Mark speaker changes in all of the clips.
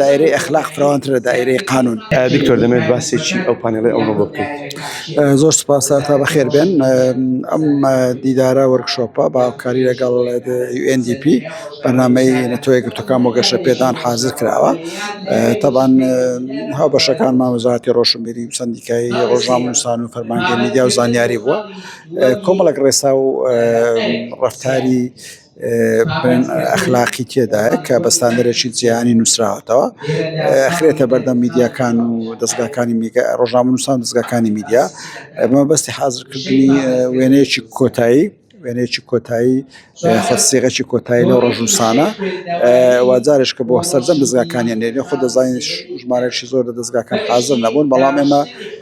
Speaker 1: دایرەی ئەخلاق فراوانتر لە دایرەی قانون. دکتۆر دەمەوێت
Speaker 2: باسێکی ئەو پانێڵی ئەمڕۆ بۆ بکەیت. زۆر سپاس تا
Speaker 1: بەخێر بێن ئەم دیدارە وەرکشۆپە بە هاوکاری لەگەڵ UNDP بەرنمەی نەتۆ یەکگرتوەکان بۆ گەشە پێدان حازر کراوە تابان هاو بەشەکان ماوەزاتی ڕۆشنبیری و سندیکایی ڕۆژنامەنووسان و فەرمانگە میدیا و زانیاری بووە کۆمەڵک ڕێسا و ڕفتاری ئەخلاقی تێدایە کە بە ستاندەرێکی جیهانی نووسراوەتەوە خرێتە بەردەم میدیاکان و دەستگاکانی میگە ڕۆژامنووسان دەستگاکانی میدیا ئەمە بەستی حازرکردنی وێنەیەکی کۆتایی وێنێکی کۆتایی خەسیغەکی کۆتایی لەو ڕژوسانە واجارش کە بۆ سەررجەم دەزگاکانیان لێ خۆ دەزانین ژمارەشی زۆر لە دەستگاکان حازر نەبوون بەڵام ئێمە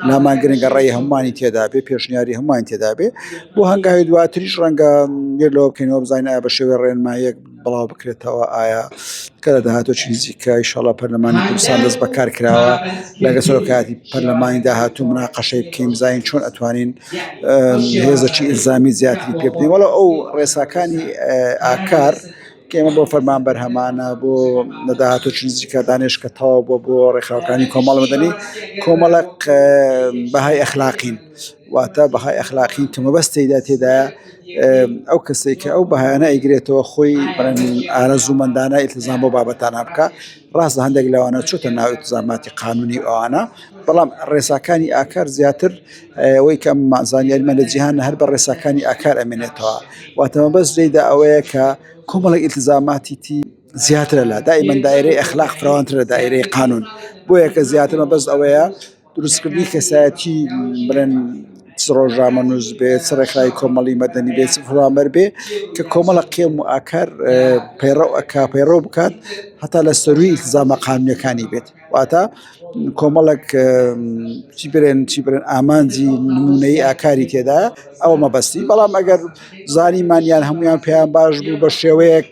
Speaker 1: نامان گرنگە ڕێی هەمووانی تێدابێ پێشنیاری هەمووان تێدابێ بۆ هەنگاوی دواتریش ڕەنگە بیر لەوە بکەینەوە بزانین ئایا بە شێوەی ڕێنماییەک بڵاو بکرێتەوە ئایا کە لە داهاتووی نزیکە ئیشاڵا پەرلەمانی کوردستان دەست بەکار کراوە لەگە سەرۆکایەتی پەرلەمانی داهاتوو مناقەشەی بکەین بزانین چۆن ئەتوانین هێزەکی ئیلزامی زیاتری پێ بدەین وەڵا ئەو ڕێساکانی ئاکار کێمە بۆ فەرمان بەرهەمانە بۆ نەداهاتۆ چیزیکە دانێش کە تەواو بۆ بۆ ڕێکخراوەکانی کۆمەڵ مەدەنی کۆمەڵک بەهای ئەخلاقین واتە بەهای ئەخلاقی کە مەبەست تێیدا تێدایە ئەو کەسێک کە ئەو بەهایانە ئەیگرێتەوە خۆی ئارەزوومەندانە ئیلتزام بۆ بابەتانە بکە ڕاست لە هەندێک لەوانە چۆتە ناو ئیلتزاماتی قانونی ئەوانە بەڵام ڕێساکانی ئاکار زیاتر ئەوەی کە زانیاریمان لە جیهان هەر بە ڕێساکانی ئاکار ئەمێنێتەوە واتە مەبەست لێیدا ئەوەیە کە کۆمەڵی ئیلتزاماتی تی زیاترە لە دائیمەن دایرەی ئەخلاق فراوانترە دایرەی قانون بۆیە کە زیاترمە بەس ئەوەیە دروستکردنی کەسایەتی بڵێن چ ڕۆژنامەنووس بێ چ ڕێکخراوی کۆمەڵی مەدەنی بێ چ فەرمانبەر بێ کە کۆمەڵە قێم و ئاکار پەیڕەو ئەکا پەیڕەو بکات هەتا لە سەرووی ئیلتزامە قانونییەکانی بێت واتە کۆمەڵێک چی برێن چی برێن ئامانجی نموونەی ئاکاری تێدا ئەوە مەبەستی بەڵام ئەگەر زانیمان یان هەموویان پێیان باش بوو بە شێوەیەک